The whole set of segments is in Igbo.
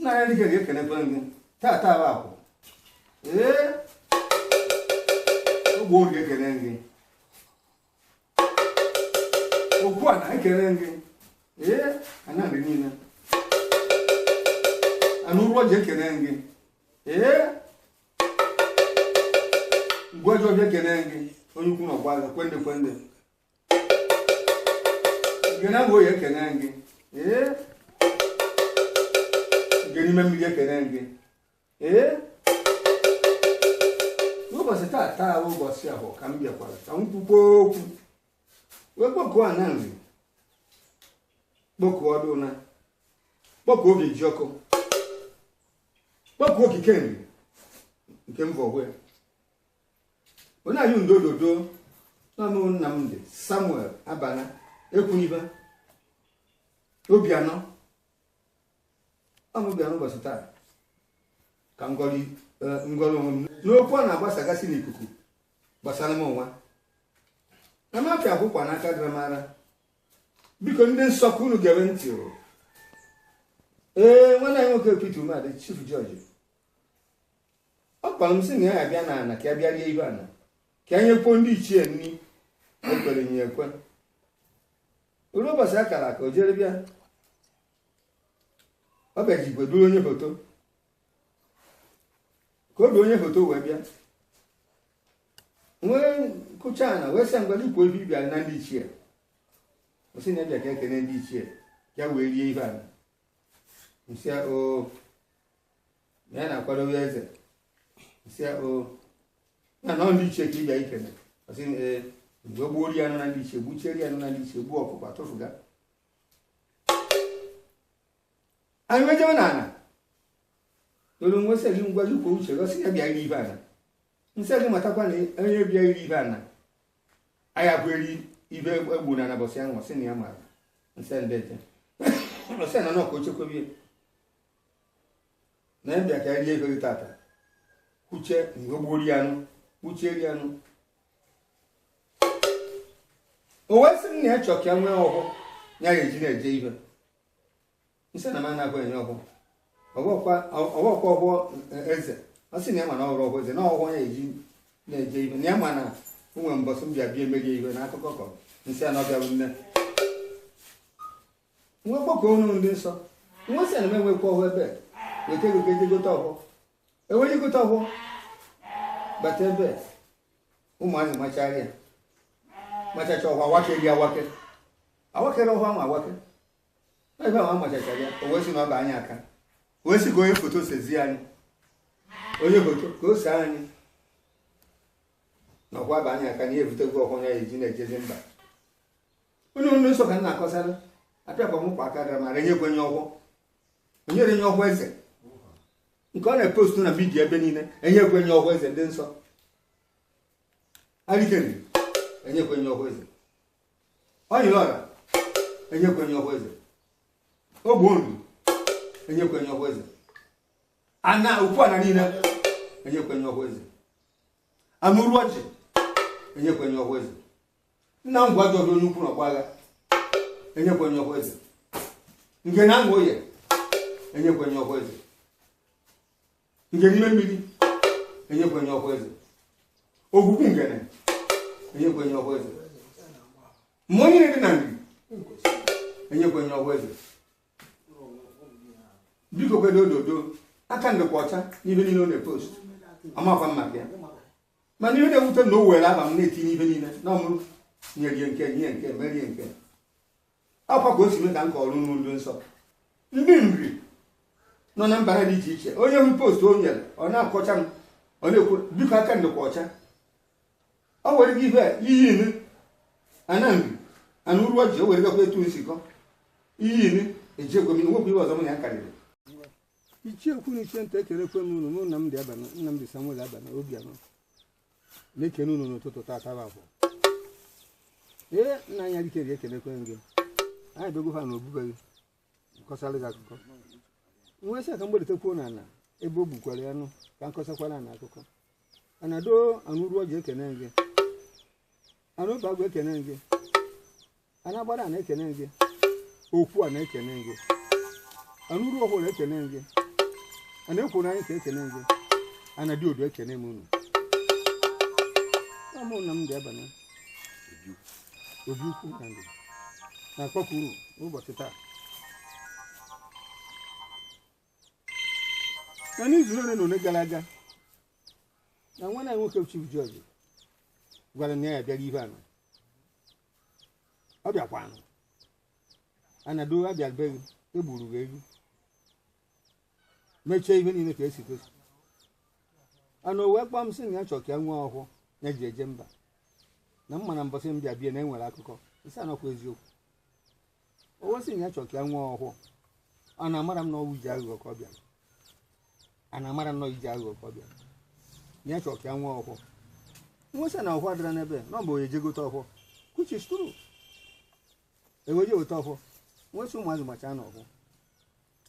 n'anya dịka ga-ekene gị tata bụ akwụ ee ogbe oge ekene gị okwu ana ekene gị ee ana ndị niile ana Uruoji ekene gị ee ngwa ọjọọ ji ekene gị onye ukwu na ọgba agha kwende kwende Ngene bụ oyi ekene gị ee gị n'ime mmiri ekene gị ee n'ụbọchị tata bụ ụbọchị Afọ ka m bịakwara ka m kwukwo okwu wee kpọkuo Ana Nri kpọkuo ọdụna kpọkuo obi ji ọkụ kpọkuo okike nri nke mba ogbe onye anyị ndododo n'ọnụ Nnamdị Samuel Abana Ekwuniba Obianọ ọ mụ bịa n'ụbọchị taa ka m gọrọ onwe m n'okwu a na-agbasagasị n'ikuku gbasara m onwe na m apịa akwụkwọ n'aka dramara biko ndị nsọ ka unu gere ntị o ee nwanne anyị nwoke Peter Umeadị Chief Judge ọ kpara m sị na ya abịa n'ana ka ya bịa rie ibe ana ka ya nyekwuo ndị ichie nri e kwere ya ekwe ruo ụbọchị a kara aka o jere bịa ọ bịaji igwe duru onye foto ka o du onye foto wee bịa m wee kụchaa ana wee sị ngwa ikwu ebe ị bịara na ndị ichie ọ sị na ya bịa ka e kene ndị ichie ya wee rie ibe ana m sị ọ na ya na-akwado ya eze m sị ọ na ọ ndị ichie ka ị bịa ikene ọ sị ee mgbe gbuo ori anụ na ndị ichie gbuchieri anụ na ndị ichie gbuo ọkụkọ atụfuga anyị wee jewe n'ana o ruo m wee sị gị ngwa gị kwuo uche gị ọ sị ya bịa iri ibe ana m sị gị matakwa na onye bịa iri ibe ana anyị abụ eri ibe egbu na anabọsị ahụ ọ sị na ya mara m sị ndeje ọ sị na nọkọ ochekwebie na ya bịa ka ya rie ego gị tata kwuche mgbe gbuo ri anụ kwuchie ri anụ o wee sị m na ya chọ ka ya nwee ọhọ ya ya-eji na-eje ibe m sị na m anaghị enye ọhọ ọ bụkwa ọhọ eze ọ sị na ya ma na ọ bụrọ ọhọ eze na ọhọ ya eji na-eje ibe na ya ma na o nwere mbọsị m bịa bịa emeghị ibe na akụkọ kọ m sị a na ọ bịarụ nne m wee kpọkọ unu ndị nsọ m wee sị na m enwekwa ọhọ ebe weta ego ka e je gote ọhọ e wee je gota ọhọ bata ebe ụmụazị machara ya machacha ọhọ awake gị awake awakere ọhọ ahụ awake ebe ahụ amachacha ya o wee sị na ọ bụ anyị aka o wee sị ka onye foto sezi anyị onye foto ka o see anyị na ọkwa bụ anyị aka na ihe ebutegwu ọhọ ya eji na-ejezi mba unu ndị nsọ ka m na-akọsara apịakwa m kwa aka gara mara enyekwe m ye ọhọ enyere m ye ọhọ eze nke ọ na-epostu na midia ebe niile enyekwe m ye ọhọ eze ndị nsọ Alike Nri enyekwe m ye ọhọ eze Ọnyịrịọra enyekwe m ye ọhọ eze Ogbo Nri enyekwe m ye ọhọ eze ana ukwu ana niile enyekwe m ye ọhọ eze Ana Uruoji enyekwe m ye ọhọ eze nna m gwa gị ọdụ onye ukwu na ọgba agha enyekwe m ye ọhọ eze Ngene Ana Oye enyekwe m ye ọhọ eze Ngene Idemmiri enyekwe m ye ọhọ eze Ogwugwu Ngene enyekwe m ye ọhọ eze mmụọ niile dị na Nri enyekwe m ye ọhọ eze biko kwedo ododo aka m dịkwa ọcha ibe niile ọ na-epost amakwa m maka ya mana ihe na-ewute na o were aba m na-etinye ibe niile na ọmụrụ nyerie nke nye nke merie nke akwa ka o si mee ka m kọrọ unu ndị nsọ ndị Nri nọ na mba dị iche iche onye hụ post o nyere ọ na-akọcha m ọ na-ekwu biko aka m dịkwa ọcha ọ were gị ife iyi inu Ana Nri Ana Uruoji o were gakwa etu m si kọ iyi inu ejekwa m nwekwa ihe ọzọ m na ya karịrị ichie ukwu na ichie nta ekenekwe m unu mụ Nnamdi Abana Nnamdi Samuel Abana Obianọ na-ekene unu n'ụtụtụ tata bụ afọ ee nna anyị Alike Nri ekenekwe m gị anyị bịago ha na obu be gị m kọsara gị akụkọ m wee sị ka m gbadatakwuo na ana ebe o gbukwara ya nụ ka m kọsakwara ana akụkọ anado Ana Uruoji ekene gị Ana Obeagụ ekene gị Ana Agbadana ekene gị okwu Ana ekene gị Ana Uruofolo ekene gị Ana Ekwenanika ekene gị Ana Diodo ekene m unu ọ mụ Nnamdi Abana Obiukwu na ndụ na-akpọku unu n'ụbọchị taa na n'izu ole na ole gara aga na nwanna nwoke Chief George gwara na ya bịara ibe ana ọ bịakwanụ ana do abịa be gị egburu gị ewu mechie ihe niile ka esi kwesị ana o wee kpọọ m sị na ya chọrọ ka ya nwee ọhụụ ya ji eje mba na mba na mbọsị ọ bịa ibe ana enwere akụkọ isi ana ọkwa eziokwu o wee sị na ya chọrọ ka ya nwee ọhụụ ana amara m na ọwụ iji aghụghọ ka ọ bịara ana amara m na ọwụ iji aghụghọ ka ọ bịara na ya chọrọ ka ya nwee ọhụụ m wee sị na ọhụụ adịra n'ebe na ọ bụ onye je gote ọhụụ which is true e wee je weta ọhụụ m wee sị ụmụazị machaa na ọhụụ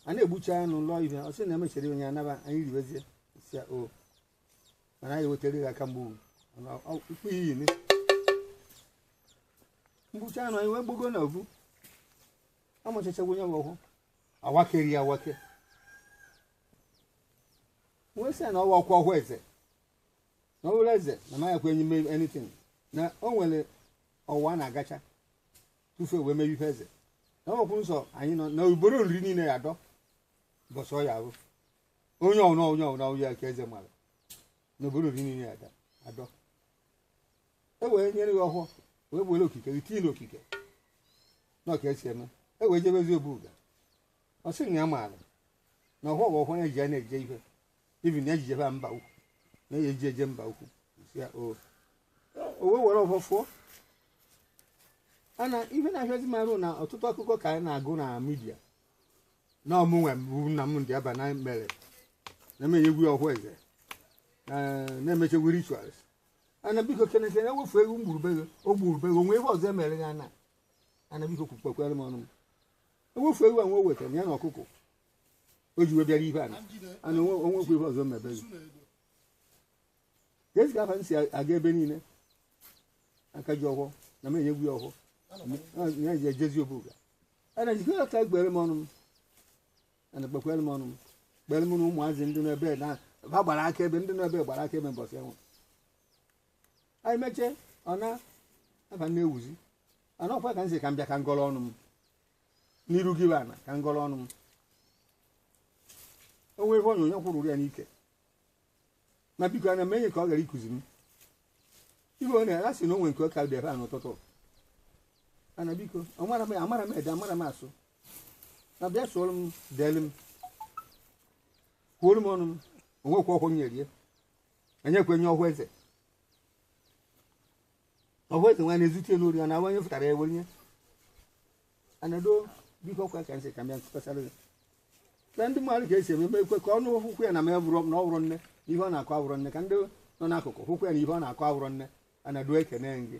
a na-egbucha anụ lụọ ihe ọ sị na emechara onye anaba anyị riwezie si o mana anyị wetara ya aka mgbu mkpụ iyi ni mgbucha anụ anyị wee gbago na ovu amachachagwo ya bụ ọhụ awakeri ya awake wee sị ya na ọwa ọkwa ọhụ eze na ọhụrụ eze na maya kwenye ime anything na o nwere ọwa a na-agacha tufu wee mebe ife eze na ọ kwụ nsọ anyị nọ na obodo Nri niile ya adọ bọsọ ya ahụ onye ọbụla onye ọbụla onye aka eze mara n'obodo Nri niile ada adọ e wee nyere ya ọhụụ wee were okike tinye n'okike na ọka esi eme e wee jebezi obuga ọ sị na ya maara na ọhụụ bụ ọhụụ ya ji ya na-eje ihe ibi na ya jijebe mba ukwu na ya eji eje mba ukwu si ya o o wee were ọhụụ fụọ ana ihe na-ahịazi m arụ na ọtụtụ akụkọ ka anyị na-agụ na midia na ọ mụnwa bụ Nnamdi Abana mere na m enyegwu ọhụ eze eh, na-emechegwu rituals ana biko keneke na ewefu ewu o gburu be gị o gburu be gị o nwee ihe ọzọ emere ya na ana biko kpekwere m ọnụ m ewefu ewu a nwa o wetara ya na ọkụkọ o ji wee bịara ibe ana ana onwe- onwekwa ihe ọzọ me be gị ka esi ka afa m si aga ebe niile aka ji ọhụụ na m enyegwu ya ọhụụ ya ji ejezi obuga ana biko ya ka kpere m ọnụ m ana kpekwere m ọnụ m kpere m na ụmụazị ndị nọ ebe na ha gbara akaebe ndị nọ ebe gbara akaebe mbọsị enwe anyị mechie ọ na afa m na-ewuzi ana ọkwa ka m si ka m bịa ka m gọrọ ọnụ m n'iru gị bụ ana ka m gọrọ ọnụ m o nwere ihe onyonyo kwụrụ ya n'ike ma biko ana m enye ka ọ gara ikuzi m ibe ọ na-ere asị na o nwe nke ọ ka dị ebe a n'ụtụtụ ana biko amara m ede amara m asụ na bịa sụọrọ m deelu m kwuoro m ọnụ m onwekwa ọkwụ m nyerie enyekwa enye ọhụ eze ọ bụ eze nwaanyị ezute n'ori ọ na-awa onye fụtara ya were nye ana do biko kwa ka nsị ka m bịa nkụkọsara gị na ndị mmadụ ka e si eme ekwe ka ọnụ hụkwụ ya na ma ya bụrụ na ọ bụrụ nne na ihe ọ na-akọ abụrụ nne ka ndị nọ n'akụkụ hụkwụ ya na ihe ọ na-akọ abụrụ nne ana do ekene gị